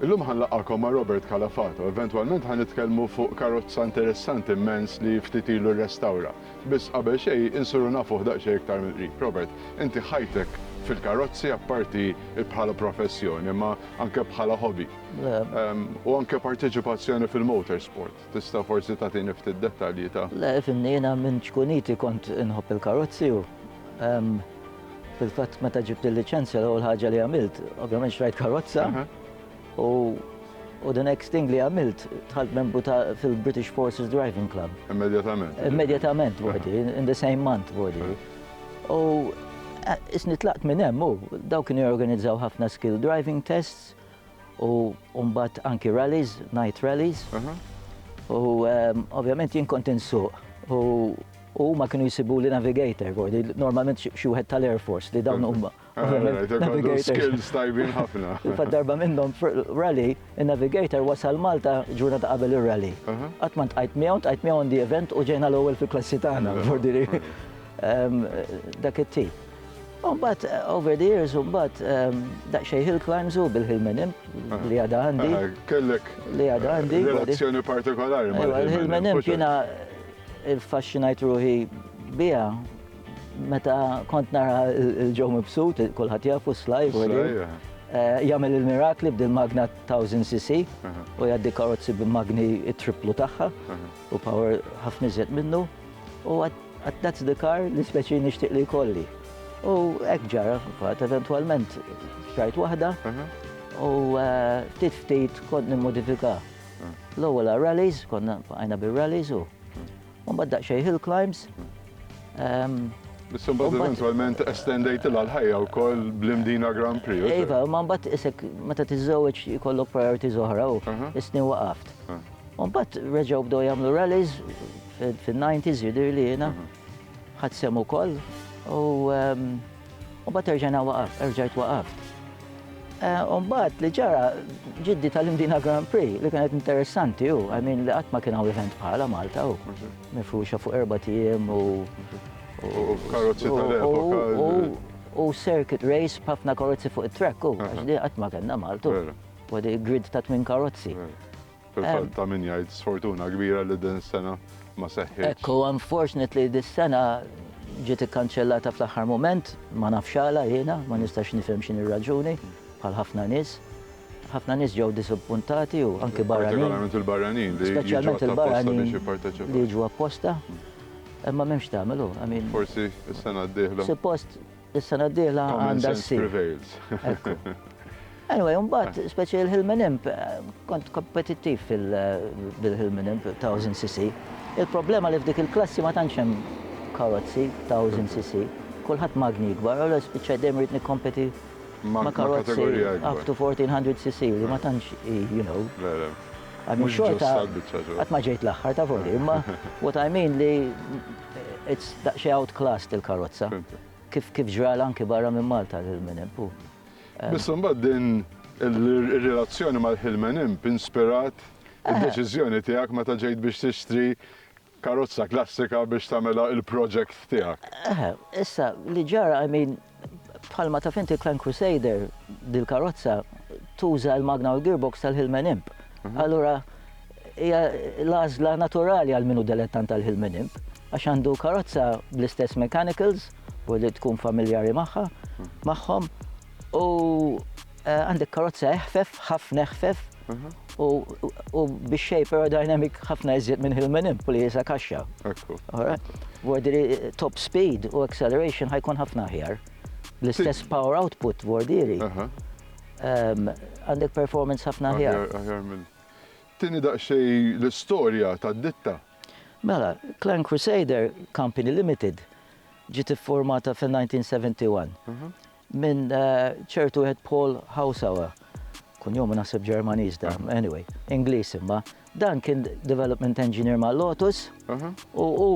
Illum ħa nlaqqagħkom ma' Robert Calafato. Eventwalment ħa nitkellmu fuq karozza interessanti mmens li ftit ilu rrestawra. Biss qabel xejn insuru nafuh daqsxejn iktar mill-qrib. Robert, inti ħajtek fil-karozzi apparti bħala professjoni imma anke bħala hobby. Le. U anke parteċipazzjoni fil-motorsport. Tista' forsi tagħtini ftit dettalji ta'. Le, fimni, jiena minn ċkuniti kont inħobb il-karozzi u Fil-fatt meta ġibt il-liċenzja l-ewwel ħaġa li għamilt, ovvjament xrajt karozza u U the next thing li għamilt, tħalt membru ta' fil-British Forces Driving Club. Immedjatament. Immedjatament, bodi, in the same month, bodi. U eh, isni tlaqt minn hemm u daw kienu jorganizzaw ħafna skill driving tests u mbagħad anki rallies, night rallies. U ovvjament jien kont insuq u huma kienu jsibuli navigator, normalment xi wieħed tal-Air Force li dawn huma. Skills tajbin ħafna. Fa darba minnhom rally, in-navigator wasal Malta ġurnata qabel ir-rally. Qatt ma ntqajt miegħu, ntqajt miegħu on the event u ġejna l-ewwel fil-klassi tagħna. Dak it-tip. Umbat, eh, over the years, umbat, ehm, daqxej hill climbs u bil-hill menim, ah. li għada għandi. Ah, kellek. Li għada eh, għandi. Relazzjoni partikolari. Ewa, il-hill menim kiena il-fascinajt ruħi bija. Meta kont nara il-ġew mibsut, kullħat jafu slaj, eh, jagħmel il-mirakli b'dil magna 1000 cc u jgħaddi karozzi b'magni triplu tagħha u power ħafna iżjed minnu. U għat that's the car li speċi nixtieq li jkolli. U hekk ġara, fatt eventwalment xtrajt waħda mhm. u eh, ftit ftit kont nimmodifika. Mhm. L-ewwel rallies, konna għajna bir-rallies u mhm. mbagħad daqsxejn hill climbs. Ehm, Bissumbat eventualment estendejt il ħajja u koll bl-imdina Grand Prix. Iva, ma mbatt isek meta tizzawieċ jkollok priority zoħra u isni waqaft. Mbatt reġaw bdow jamlu rallies, Fin-90s jidhir li jiena ħadd sehem ukoll u mbagħad terġajna waqaf, erġajt waqaft. Eh, u mbagħad li ġara ġiddi tal-Indina Grand Prix li kienet interessanti u għamin li qatt ma kien hawn event bħala Malta u mifruxa fuq erba' tiem u karozzi tal-epoka. U circuit race b'ħafna karozzi fuq it-track u għax qatt ma kellna Malta. U għadi grid ta' tmin karozzi. Fil-fatt ta' min jgħid sfortuna kbira li din is-sena ma seħħitx. Hekk hu, unfortunately dis-sena ġiet ikkanċellata fl-aħħar mument, ma nafx għala jiena, ma nistax nifhem x'inhi r-raġuni bħal ħafna nies. Ħafna nies ġew disappuntati u anke barranin. Partikolarment il-barranin li jiġu apposta biex jipparteċipaw. Li jiġu apposta. Imma m'hemmx tagħmel hu. Forsi s-sena d-dieħla. Suppost Is-sena d-dieħla għandha ssir. Anyway, mbagħad speċi il-Hilmen Imp, kont kompetittiv fil-Hilmen Imp 1000 cc. Il-problema li f'dik il-klassi ma tantx hemm karozzi 1000 cc, kulħadd magni ikbar, allura spiċċaj dejjem rrid nikkompeti ma' karozzi up to 1400 cc li ma tantx, you know. Għax ma ġejt l-aħħar ta' voli, imma what I mean li It's daqsxejn outclassed il-karozza. Kif kif ġralha anki barra minn Malta l-Hill Min Imp u. Biss imbagħad din ir-relazzjoni mal-Hill Min Imp inspirat id-deċiżjoni tiegħek meta ġejt biex tixtri karozza klassika biex tagħmilha l-project tiegħek. Eħe, issa li ġara, I mean, Bħalma taf inti l-Clan Crusader, dil-karozza, tuża l-magna u l-gearbox tal-Hillman Imp. Mhm. Allura, hija l-għażla naturali għal minu delettant tal-Hillman Imp, għax għandu karozza bl-istess mechanicals, u li tkun familjari magħha, mhm. magħhom, u Għandek karozza eħfef, ħafna eħfef, u biex xej aerodynamic ħafna iżjed minn hill minn impu li jisa kaxxa. Ekku. Għordiri eh, top speed u acceleration ħajkun ħafna ħjar. L-istess power output għordiri. Ehm, għandek performance ħafna ħjar. Ħjar minn. Tini daqxej l-istoria ta' ditta. Mela, Clan Crusader Company Limited ġiet formata fil-1971. minn ċertu wieħed Paul Hausauer, kunjomu naħseb Ġermaniż da, anyway, Ingliż imma, dan kien development engineer ma' Lotus u hu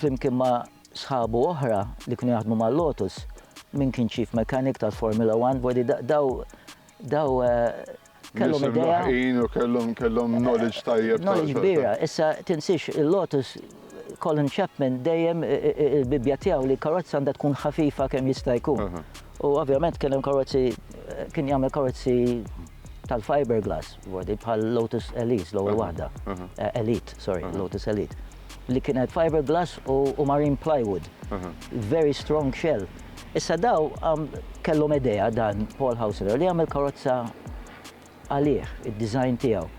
flimkien ma' sħabu oħra li kienu jaħdmu ma' Lotus, min kien chief mechanic tal-Formula 1, daw kellhom idea. u kellhom kellhom knowledge tajjeb. Knowledge kbira. Issa tinsiex il-Lotus Colin Chapman dejjem il-bibja tiegħu li karozza għandha tkun ħafifa kemm jista' jkun. U ovvjament kien hemm karozzi kien jagħmel karozzi tal-fiberglass bħal Lotus Elise l-ewwel waħda. Elite, sorry, Lotus Elite. li kienet fiberglass u marine plywood. Very strong shell. Issa daw kellhom idea dan Paul Haussler li jagħmel karozza għalih, id-design tiegħu.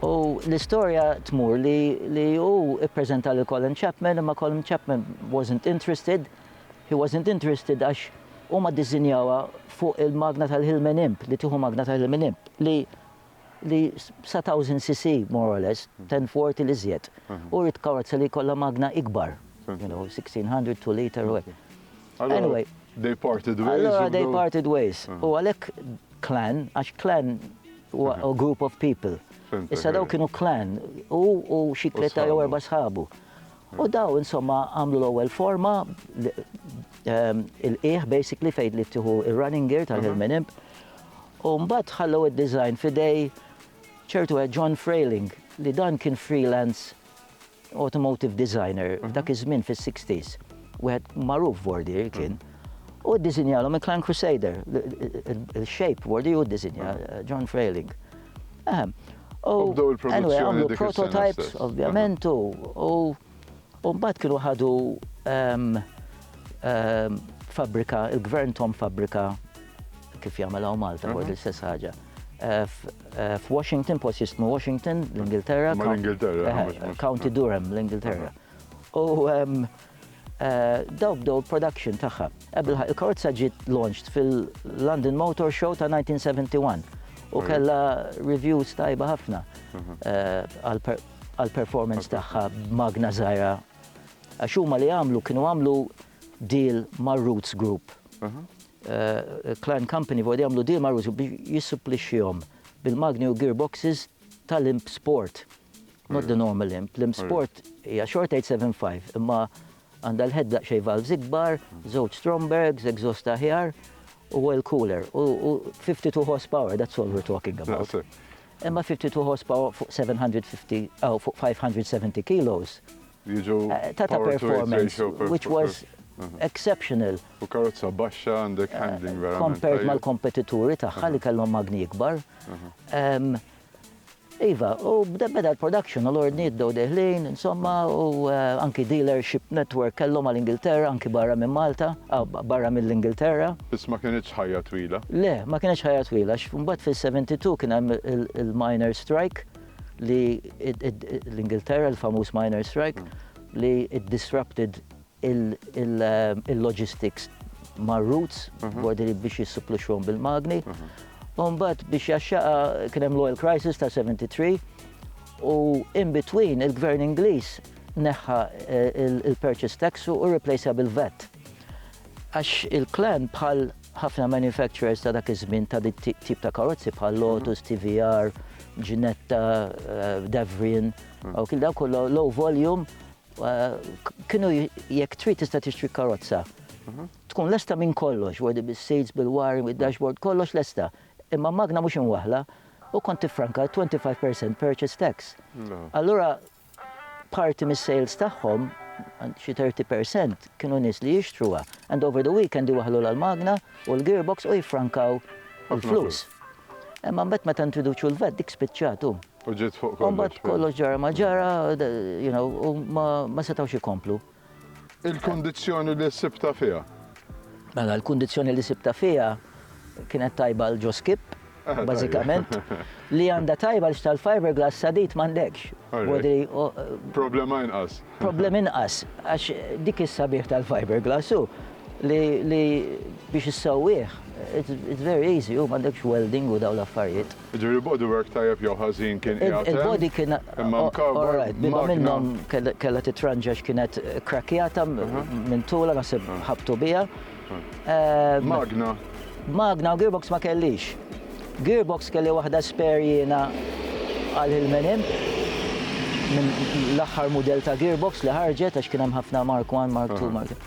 U l-istorja tmur li hu ppreżenta lil Colin Chapman imma Colin Chapman wasn't interested, he wasn't interested għax huma ddisinjawha fuq il-magna tal-Hillman Imp, li tieħu magna tal-Hillman Imp, li li sa 1000 cc more or less, ten forty l iżjed. U rrid karozza li jkollha magna ikbar, you know, 1600, two litre u hekk. Anyway. They parted ways. Allura they parted ways. U għalhekk clan, għax clan huwa a group of people. Issa daw kienu clan, hu u xi tlieta jew erba' sħabu. U daw insomma għamlu l-ewwel forma il-qiegħ basically fejn li tieħu ir-running gear tal-Hillman Imp. U mbagħad ħallew id-design fidej ċertu għed John Frailing li dan kien freelance automotive designer mhm. dak iż-żmien fis-60s. Wieħed magħruf Vordier kien. U ddisinjalhom il-Clan Crusader, il-shape Vordier u ddisinja mhm. John Frailing. Ehm, U bdew il-produzzjoni għamlu prototypes, ovvjament, u mbagħad kienu ħadu ehm, ehm, fabrika, il-gvern tom fabrika kif jagħmel hawn Malta, mhm. għod l-istess ħaġa. Eh, eh, F'Washington, post jismu Washington, l-Ingilterra. L-Ingilterra. Eh, County Durham, l-Ingilterra. Mhm. U ehm, Daw bdew il-production tagħha. Ebilħaqq, il-karozza ġiet launched fil-London Motor Show ta' 1971 u kellha reviews tajba ħafna għall-performance tagħha b'magna żgħira. Għax huma li għamlu kienu għamlu deal mar-Rootes Group. Klein Company vogħod jagħmlu deal mar-Rootes Group biex jissupplixxihom bil-magni u gearboxes tal-Imp Sport. Not the normal imp. L-imp sport hija xorta 875 imma għandha l-head daqsxejn valves ikbar, żewġ Strombergs, exhaust aħjar u oil cooler u 52 horsepower, that's all we're talking about. Imma 52 horsepower fuq 750 aw fuq 570 kilos ta' ta' performance which was exceptional. U karozza baxxa għandek handling verament. Compared mal-kompetituri tagħha li kellhom magni ikbar. Iva, u bda beda l-production u l-ordnijiet bdew deħlin, insomma, u anki dealership network kellhom għal Ingilterra, anki barra minn Malta, barra mill-Ingilterra. Biss ma kinitx ħajja twila. Le, ma kinitx ħajja twila għax imbagħad fis-72 kien hemm il-miners strike li l-Ingilterra, il-famuż miners strike, li it disrupted il-logistics mar-routes, bordieri biex jissuppluxxuhom bil-magni. U mbagħad biex jaxxaqha kien hemm l-oil crisis ta' 73 u in between il-Gvern Ingliż neħħa l-purchase tax u rreplacea bil-VAT. Għax il-Clan bħal ħafna manufacturers ta' dak iż-żmien ta' dik tip ta' karozzi bħal Lotus, TVR, Ginetta, Devrian, dawk kollha low volume Kienu jekk trid tista' tixtri karozza. Mhm. Tkun lesta minn kollox, wadi bis-seats, bil-wiring, bil-dashboard, kollox lesta. Imma magna mhux imwaħla u kont tifranka 25% purchase tax. Allura parti mis-sales tagħhom xi 30% kienu nies li jixtruha. And over the weekend iwaħlu l-magna u l-gearbox u jifrankaw il-flus. Imma mbagħad meta introduċu l-vet dik spiċċatu. U ġiet fuq kollox. U mbagħad kollox ġara ma ġara, you know, u ma setgħux ikomplu. Il-kundizzjoni li sibta fiha? Mela, l-kundizzjoni li sibta fiha kienet tajba l ġo skip, eh, bażikament, li għandha tajba l tal-fiberglass sadit m'għandekx. Problema inqas. Problema inqas, għax dik is-sabiħ tal-fiberglass u li biex issawwieħ, it's very easy, u m'għandekx welding u daw l-affarijiet. Jiġifieri il-bodywork tajjeb jew ħażin kien qiegħed hemm, imma mkawwar b'magna. Kellha titranġa x'kienet kkrakkjata minn tulha naħseb ħabbtu biha. Magna? Magna u gearbox ma kellix. Gearbox kelli waħda spare jiena għal il minn hemm, minn l-aħħar mudell ta' gearbox li ħarġet għax kien hemm ħafna Mark I, Mark II, Mark.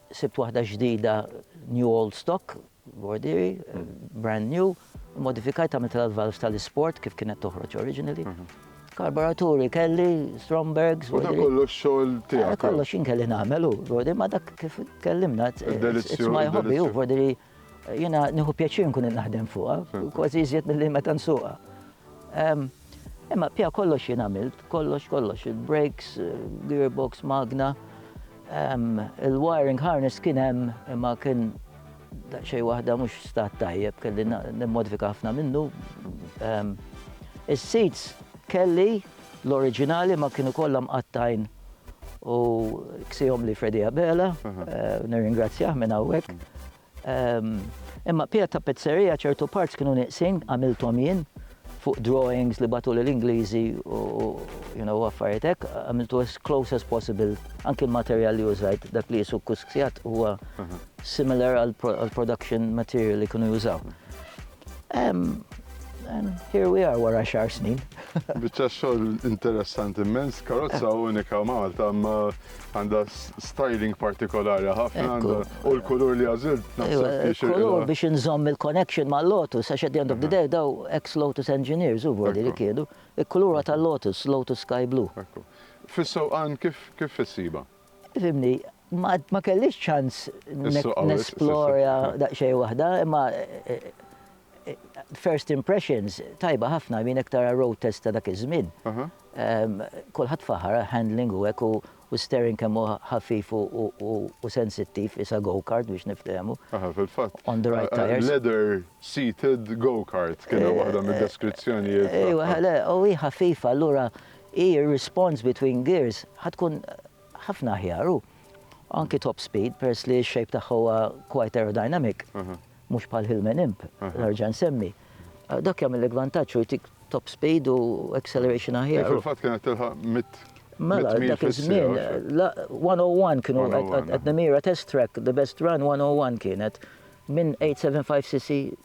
Sibt waħda ġdida new old stock, bordieri, brand new, immodifikajt għamiltilha l-valves tal-isport kif kienet toħroġ originally. Karburaturi kelli, Strombergs. U dak kollu x-xogħol tiegħek. Kollox jien kelli nagħmel u bordieri ma dak kif tkellimna. It's my hobby u bordieri. Jiena nieħu pjaċir nkun naħdem fuqha, kważi iżjed milli meta nsuqha. Imma pja kollox jien għamilt, kollox kollox, il-brakes, gearbox, magna, il-wiring harness kien hemm imma kien xej waħda mhux stat tajjeb kelli nimmodifika ħafna minnu. Is-seats kelli L-oriġinali ma kienu kollha mqattgħin u ksihom li Freddie Abela, nirringrazzjah minn hawnhekk. Imma piegħed ta' pizzeria ċertu parts kienu nieqsin, għamilthom jien, fuq drawings li bagħtuli l-Ingliżi u you know affarijiet hekk, għamiltu as close as possible, anki l-materjal li użajt, dak li qisu kusksjat huwa similar għall-production material li kienu jużaw. And here we are wara xar snin. Biċċa xogħol interessanti immens, karozza eh. unika Malta, ma għandha styling partikolari ħafna u l-kulur li għażil Kulur biex inżomm il-connection ma' Lotus, għax at the end of the day daw ex-Lotus engineers u vodi li kienu, il-kulura tal-Lotus, Lotus Sky Blue. Fis-sewqan kif issiba? Fimni, għad ma kellix ċans nesplora daqxej waħda, imma first impressions tajba ħafna minn iktar road test ta' dak iż-żmien. Kulħadd faħar handling u hekk u steering kemm hu ħafif u sensittiv isa go-kart biex niftehmu. Aha, fil-fatt. On the right tires. Leather seated go-kart kien waħda mid-deskrizzjonijiet. Ejwa, ħale, u hi ħafifa allura hi r-response between gears ħa tkun ħafna aħjar u anki top speed peress li x-shape tagħha huwa quite aerodynamic, mhux bħal Hillman Imp li nerġa' nsemmi. Dak jagħmillek vantaġġ u jtik top speed u acceleration aħjar. Fil-fatt kienet tilħaq 100 Mela, dak iż-żmien, 101 kienu qed nimira test track, the best run 101 kienet minn 875cc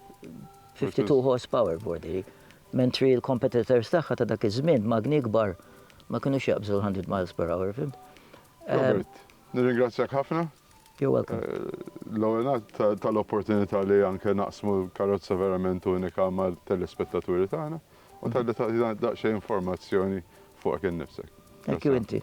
52 horsepower bordi. Mentri l-competitors tagħha ta' dak iż-żmien, magni kbar, ma kinux jaqbżu l-100 miles per hour, fhimt? Robert, nirringrazzjak ħafna. You're welcome. L-ewwel nett tal-opportunità li anke naqsmu karozza verament unika mat-telespettaturi tagħna u talli tagħtina daqsxejn informazzjoni fuqek innifsek. Anki inti.